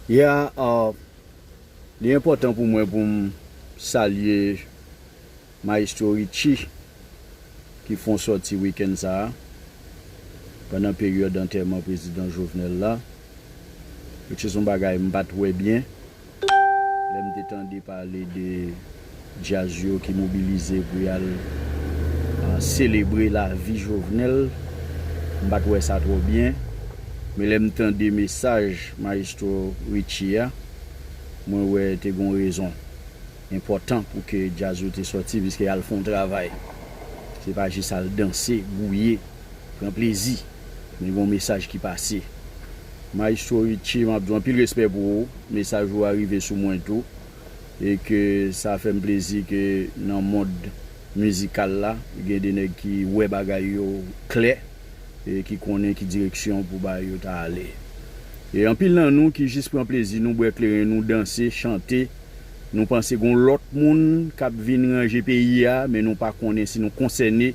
Yeah li enpòtan pou mwen pou m salye Maestro Richie ki fon sòti weekend sa a pandan peryòd antèman Prezidan Jovenel la which is yon bagay m pat wè byen. Lè m te tande pale de Djaz yo ki mobilize pou y al selebre lavi Jovenel, m pa t wè sa twò byen. Men lè m tande mesaj Mayestwo Richie a, mwen wè te gen yon rezon enpòtan pou ke Djaz yo te sòti, piske y al fè yon travay. Se pa jis al danse, gouye, pran plezi, men gen yon mesaj ki pase. Maestro Richie map diw anpil respè pou ou, mesaj ou a rive sou mwen tou e ke sa fèm plezi ke nan mond mizikal la gen de nèg ki wè bagay yo klè e ki konnen ki direksyon pou bagay yo ta ale. E anpil nan nou ki jis pran plezi nou bwè kleren nou danse, chante, nou panse gon lòt moun kap vin ranje peyi a men nou pa konnen si nou konsène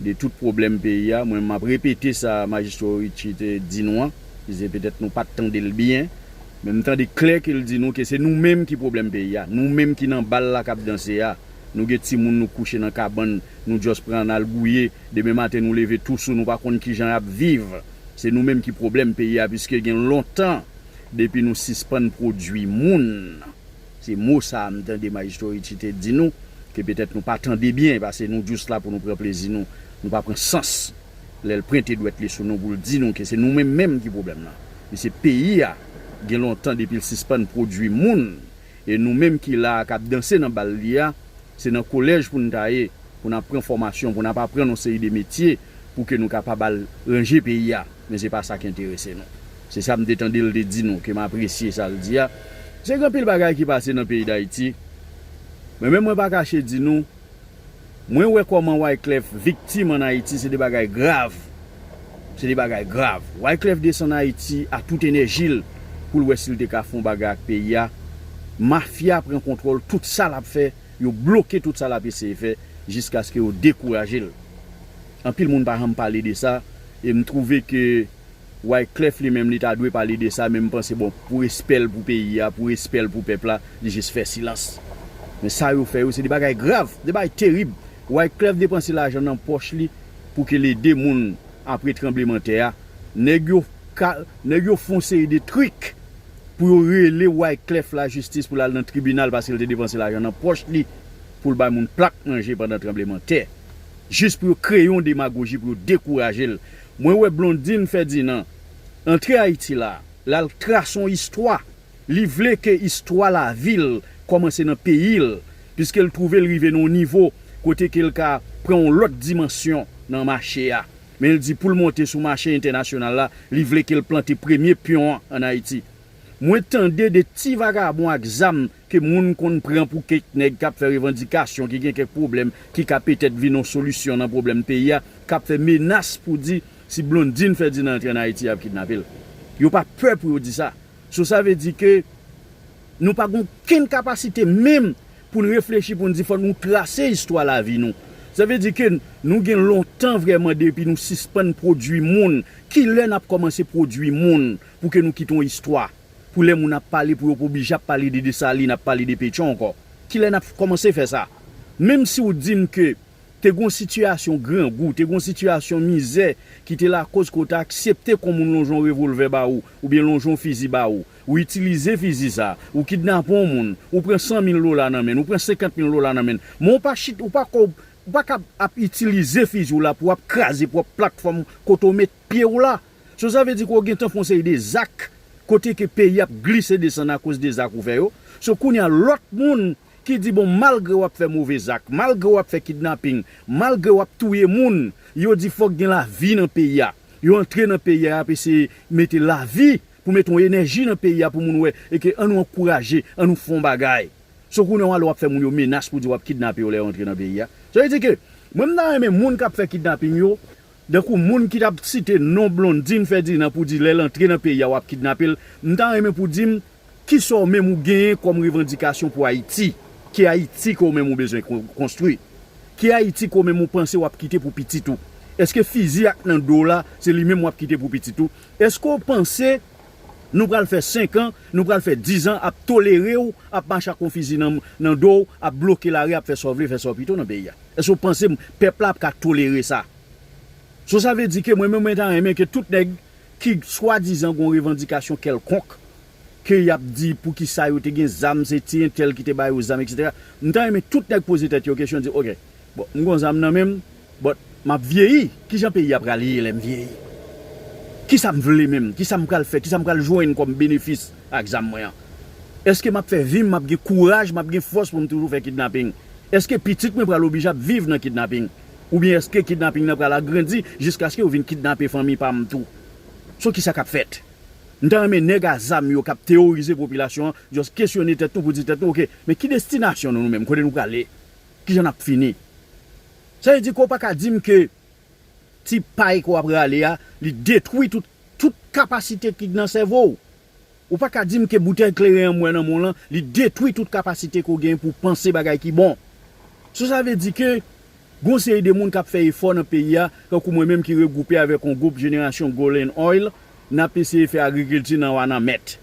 de tout pwoblèm peyi a, mwen map repete sa Majistro Richie te di nou an, ki se petèt nou pat tande l byen, men m tande klè ke l di nou ke se nou menm ki pwoblèm peyi a, nou menm ki nan bal la kap danse a, nou gen timoun nou kouche nan kabann, nou just pran nal gouye, demen maten nou leve tou sou nou pa konn kijan yap viv, se nou menm ki pwoblèm peyi a, puiske gen lontan depi nou sispann pwodwi moun. Se mo sa a m tande Maestro Richie te di nou, ke petèt nou pa tande byen, pase nou just la pou nou pran plezi nou, nou pa pran sans lè l prente dwèt li sou nou pou l di nou ke se nou menm menm ki pwoblèm lan. Mesye peyi a gen lontan depi l sispann pwodui moun, e nou menm ki la a k ap danse nan bal li a, Se nan kolèj pou n ta ye, pou n ap pran fòmasyon, pou n ap aprann yon seri de metye pou ke nou kapab al ranje peyi a. Men se pa sa k enterese nou. Se sa m te tande l te di nou, ke m apresye sa l di a. Se gen anpil bagay ki pase nan peyi Dayiti. Men menm mwen pa kache di nou, mwen wè kòman Wyclef viktim an Ayiti se de bagay grav. Se de bagay grav. Wyclef desann Ayiti a tout enèji l pou l wè si l te ka fè yon bagay ak peyi a. Mafya pran kontwòl tout sa l ap fè, yo bloke tout sa l ap eseye fè jiskaske yo dekouraje l. Anpil moun pa janm pale de sa e m twouve ke Wyclef li menm li ta dwe pale de sa men m panse bon pou respè l pou peyi a, pou respè l pou pèp la, li jis fè silans. Men sa yo fè yo se de bagay grav, se de bagay terib. Wyclef depanse lajan nan pòch li pou ke l ede moun apre tranbleman tè a, nèg yo ka nèg yo fon seri de trik pou yo rele Wyclef la jistis pou l al nan tribinal paske l te depanse lajan nan pòch li pou l bay moun plak manje pandan tranbleman tè jis pou yo kreye yon demagoji pou yo dekouraje l mwen wè Blondine Ferdinand antre Ayiti la l al trase yon istwa. Li vle ke istwa lavi l kòmanse nan peyi l, piske l twouve l rive nan yon nivo kote ke l ka pran yon lòt dimansyon nan mache a. Men l di pou l monte sou mache entènasyonal la, li vle ke l plante premye pyon an ann Ayiti. Mwen tande de ti vagabon ak zam ke moun konn pran pou kèk nèg k ap fè revandikasyon, ki gen kèk pwoblèm ki ka petèt vin yon solisyon nan pwoblèm peyi a, k ap fè menas pou di si Blondine Ferdinand antre ann Ayiti y ap kidnape l. Yo pa pè pou yo di sa. So sa vle di ke nou pa gen okenn kapasite menm pou n reflechi pou n di fòk nou trase istwa lavi nou. Sa vle di ke nou gen lontan vrèman depi nou sispann pwodui moun. Ki lè n ap kòmanse pwodui moun pou ke nou kite yon istwa? Pou lè moun ap pale pou yo pa oblije ap pale de Desalin, ap pale de Petion ankò. Ki lè n ap kòmanse fè sa? Menm si ou di m ke Te gon sitiyasyon grangou, te gon sitiyasyon mizè ki te lakoz ke w te aksepte kon moun lonje yon revolvè ba ou, oubyen lonje yon fizi ba ou. Ou itilize fizi sa, ou kidnape yon moun, ou pran 100 mil dola nan men n, ou pran 50 mil dola nan men n, men w pa chit, ou pa kòb, ou pa kab ap itilize fizi w la pou w ap kraze pwòp platfòm kote w met pye w la. So sa vle di ke w gentan fè yon seri de zak kote ke peyi ap glise desann akoz de zak ou fè yo. So kounye a lòt moun Ki di bon malgre wap fè move zak, malgre wap fè kidnaping, malgre wap touye moun, yo di fòk gen lavi nan peyi a. Yo antre nan peyi a yap eseye mete lavi pou mete yon enèji nan peyi a pou moun wè e ke an nou ankouraje, an nou fè yon bagay. So kounye a wale wap fè moun yo menas pou di wap kidnape yo lè yo antre nan peyi a. Sa vle di ke mwen m ta renmen moun kap fè kidnaping yo, dankou moun ki tap site non Blondine Ferdinand pou di lèl antre nan peyi a wap kidnape l, m ta renmen pou di m Kisa w menm ou genyen kòm revandikasyon pou Ayiti? Ki Ayiti ke w menm ou bezwen konstwi? Ki Ayiti ke w menm ou panse w ap kite pou pitit ou? Eske fizi ak nan do w la se li menm w ap kite pou pitit ou? Eske w panse nou pral fè senkan, nou pral fè dizan ap tolere w ap mache ak yon fizi nan do w, ap bloke lari, ap fè sa w vle, fè sa w pito nan peyi a? Eske w panse pèp la ap ka tolere sa? So sa vle di ke mwen menm mwen ta renmen ke tout nèg ki swadizan gon revandikasyon kèlkonk, ke y ap di poukisa yo te gen zam, se ti entèl ki te ba yo zam eksetera. M ta renmen tout nèg poze tèt yo kesyon di ok, bon m gon zam nan men m, but m ap vyeyi, kijan peyi a pral ye lè m vyeyi? Kisa m vle menm? Kisa m pral fè? Kisa m pral jwenn kòm benefis ak zam mwen an? Eske m ap fè vi m, m ap gen kouraj, m ap gen fòs pou m toujou fè kidnaping? Eske pitit mwen pral oblije ap viv nan kidnaping? Oubyen èske kidnaping nan pral agrandi jiskaske yo vin kidnape fanmi pa m tou? So kisa k ap fèt? M ta renmen nèg a zam yo k ap teworize popilasyon an just kesyone tèt nou pou di tèt nou ok, men ki destinasyon nou nou menm? Kote nou prale? Kijan n ap fini? Sa vle di ke w pa ka di m ke ti pay ke w ap rale a li detwi tout kapasite ki nan sèvo w? Ou pa ka di m ke boutèy kleren an m wè nan men w lan, li detwi tout kapasite ke w genyen pou w panse bagay ki bon. So sa vle di ke gen yon seri de moun k ap fè efò nan peyi a, tankou mwen menm ki regwoupe avèk yon gwoup Jenerasyon Golden Oil, n ap eseye fè agrikilti nan Wananment.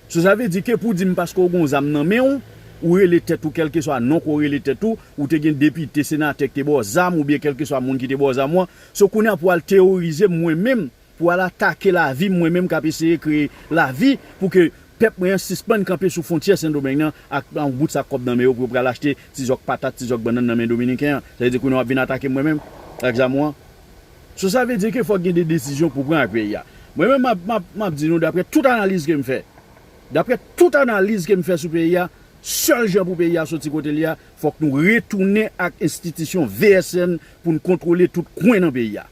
So sa vle di ke pou w di m paske w gen yon zam nan men w, ou rele tèt ou kèlkeswa non ke w rele tèt ou, ou te gen depite, senatè ki te ba w zam oubyen kèlkeswa moun ki te ba w zam ou an, so kounye a pou w al teworize m mwen menm Pou al atake lavi m mwen menm k ap eseye kreye lavi pou ke pèp mwen an sispann kanpe sou fwontyè Sendomeng nan ak yon bout sak kòb nan men yo pou yo pral achte ti zòk patat, ti zòk bannann nan men Dominiken an. Sa vle di kounye a w ap vin atake m mwen menm ak zam ou an? So sa vle di ke fòk gen de desizyon pou pran ak peyi a. Mwen menm m ap, m ap, m ap di nou daprè tout analiz ke m fè, daprè tout analiz ke m fè sou peyi a, sèl jan pou peyi a soti kote l ye a, fòk nou retounen ak enstitisyon VSN pou n kontwole tout kwen nan peyi a.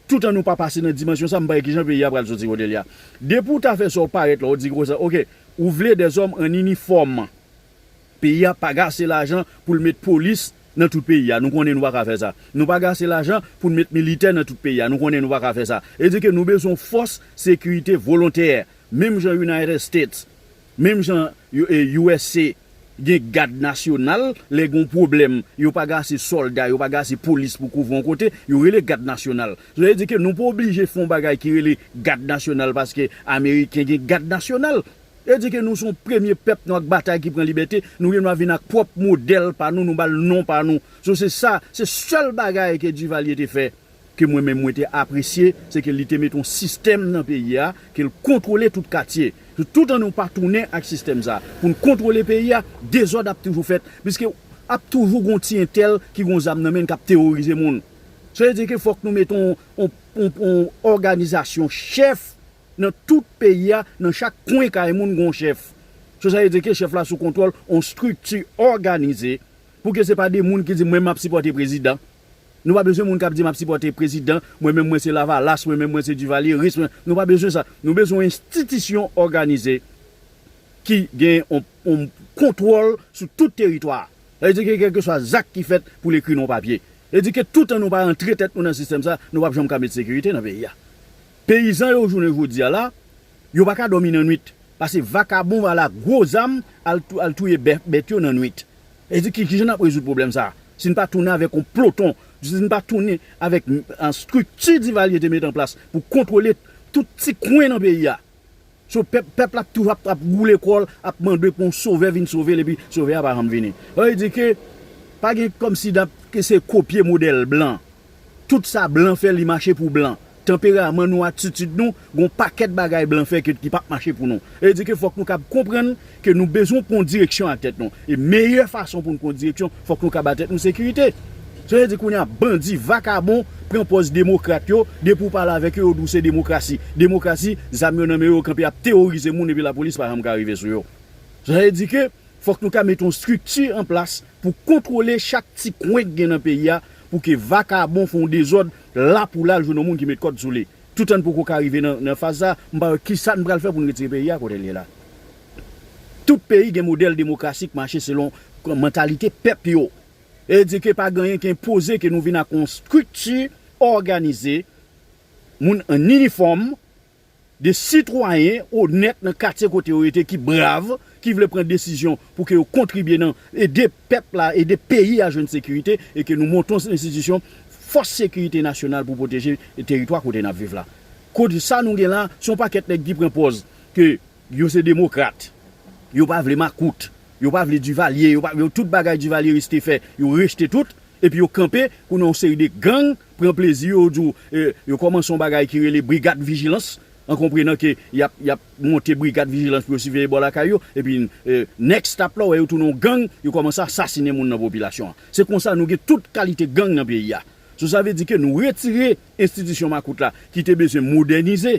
Toutan nou pa pase nan dimansyon sa m pa wè kijan peyi a pral soti kote l ye a. Depi w ta fè sa w parèt la w di gwo sa ok ou vle des hommes en uniforme peyi a pa gase lajan pou l met polis nan tout peyi a nou konnen nou pa ka fè sa nou pa gase lajan pou n met militè nan tout peyi a nou konnen nou pa ka fè sa e di ke nou bezwen yon fòs sekirite volontè menm jan United States Menm jan usa gen gad nasyonal lè gon pwoblèm yo pa gen ase sòlda yo pa gen ase polis pou kouvri yon kote yo rele gad nasyonal sa vle di ke nou pa oblije fè yon bagay ki rele gad nasyonal paske ameriken gen gad nasyonal sa vle di ke nou son premye pèp nou ak batay ki pran libète nou gen dwa vin ak pwòp modèl pa nou nou bal non pa nou so se sa se sèl bagay ke Duvalier te fè ke mwen menm mwen te apresye, se ke li te mete yon sistèm nan peyi a, ke l kontwole tout katye. Tout an nou pa tounen ak sistèm sa a, pou n kontwole peyi a, dezòd ap toujou fèt, piske ap toujou gen yon ti entèl ki gen yon zam nan men l, k ap teworize moun. Sa vle di ke fòk nou mete yon òganizasyon chèf nan tout peyi a, nan chak kwen kay moun gen yon chèf. Sa vle di ke chèf la sou kontwòl yon estrikti òganize, pou ke se pa de moun ki di mwen m ap sipòte prezidan, Nou pa bezwen moun kap di map sipòte prezidan, mwen menm mwen se lavalas, mwen menm mwen se divalyeris, mwen nou pa bezwen sa. Nou bezwen yon enstitisyon òganize ki gen yon kontwòl sou tout teritwa a. Sa vle di ke kèlkeswa zak ki fèt pou l ekri nan yon papye. Sa vle di ke toutan nou pa antre tèt nou nan sistèm sa, nou pap janm ka met sekirite nan peyi a. Peyizan yo jounen jodi a la, yo pa ka dòmi nan nwit. Pase vakabon ala gwo zam al touye bèf bèt yo nan nwit. E di kijan n ap rezoud pwoblèm sa a si n pa tounen avèk yon ploton, si n pa tounen avèk estrikti Divalye te mete an plas pou kontwole tout ti kwen nan peyi a. So pèp, pèp la toujou ap ap woule kò l, ap mande pou yon sovè vin sove l epi sovè a pa janm vini. Sa vle di ke pa gen kòmsi dap ke se kopye modèl blan. Tout sa blan fè li mache pou blan. Tanperaman nou, atitid nou, gon pakèt bagay blan fè ke ki pap mache pou nou. E di ke fòk nou kab konprann ke nou bezwen pwan direksyon ak tèt nou. E meyè fason pou nou pwan direksyon, fòk nou ka ba tèt nou sekirite. Sa vle di kounye a bandi, vakabon pran pòz demokrat yo, depi ou pale avèk yo, yo di ou se demokrasi. Demokrasi, zam yo nan men yo, yo kanpe ap teworize moun epi lapolis pa janm ka rive sou yo. Sa vle di ke fòk nou ka mete yon strikti an plas pou kontwole chak ti kwen ki gen nan peyi a pou ke vakabon fè yon dezòd la pou la l jwenn yon moun ki met kòd sou li. Toutan n poko ka rive nan faz sa a, m pa wè kisa n pral fè pou n retire peyi a kote l ye la. Tout peyi gen modèl demokrasi k mache selon mantalite pèp yo. E di ke pa gen anyen ki enpoze ke nou vin ak yon estrikti òganize, moun an inifòm, De sitwayen onèt nan katye kote yo rete ki brav, ki vle pran desizyon pou ke yo kontribye nan ede pèp la, ede peyi a jwenn sekirite e ke nou monte yon enstitisyon fòs sekirite nasyonal pou pwoteje teritwa kote n ap viv la. Kot sa nou gen la, se yon pakèt nèg ki pran pòz ke yo se demokrat, yo pa vle makout, yo pa vle Duvalier, yo pa vle tout bagay Duvalieris te fè, yo rejte tout, epi yo kanpe kou nan yon seri de gang, pran plezi yo, yo di w yo kòmanse yon bagay ki rele brigad vijilans, an konprenan ke y ap y ap monte brigad vijilans pou yo siveye bò lakay yo, epi next stop la, wè yo tounen yon gang, yo kòmanse asasinen moun nan popilasyon an. Se konsa nou gen tout kalite gang nan peyi a. So sa vle di ke nou retire enstitisyon makout la ki te bezwen modènize,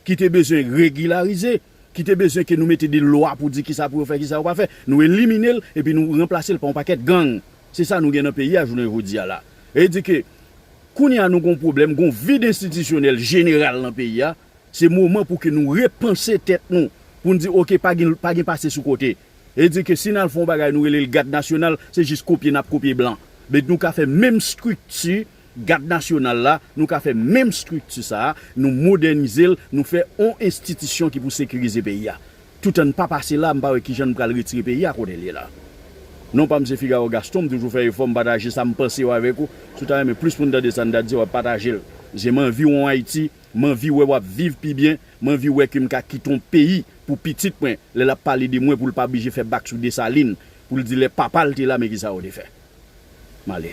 ki te bezwen regilarize, ki te bezwen ke nou mete de lwa pou di kisa pou yo fè, kisa yo pa fè, nou elimine l epi nou ranplase l pa yon pakèt gang. Se sa nou gen nan peyi a jounen jodi a la. Sa vle di ke kounye a nou gen yon pwoblèm, gen yon vid enstitisyonèl jeneral nan peyi a, se moman pou ke nou repanse tèt nou, pou nou di ok pa gen pase sou kote. E di ke si n al fè yon bagay nou rele l Gad Nasyonal, se jis kopye n ap kopye blan. Men nou ka fè menm estrikti Gad Nasyonal la, nou ka fè menm estrikti sa a, nou modènize l, nou fè yon enstitisyon ki pou sekirize peyi a. Toutan n pa pase la, m pa wè ki jan n pral retire peyi a kote l ye la. Non pa m se Figaro Gaston, m toujou fè efò m pataje sa m panse yo avèk ou. Si w ta renmen plis pou n tande sa n ta di, w ap pataje l. Paske m anvi w yon Ayiti, m anvi wè w ap viv pi byen. M anvi wè ke m ka kite yon peyi pou pitit mwen lè l ap pale de mwen pou l pa blije fè bak sou Desalin pou l di lè papa l te la men kisa yo te fè. M ale.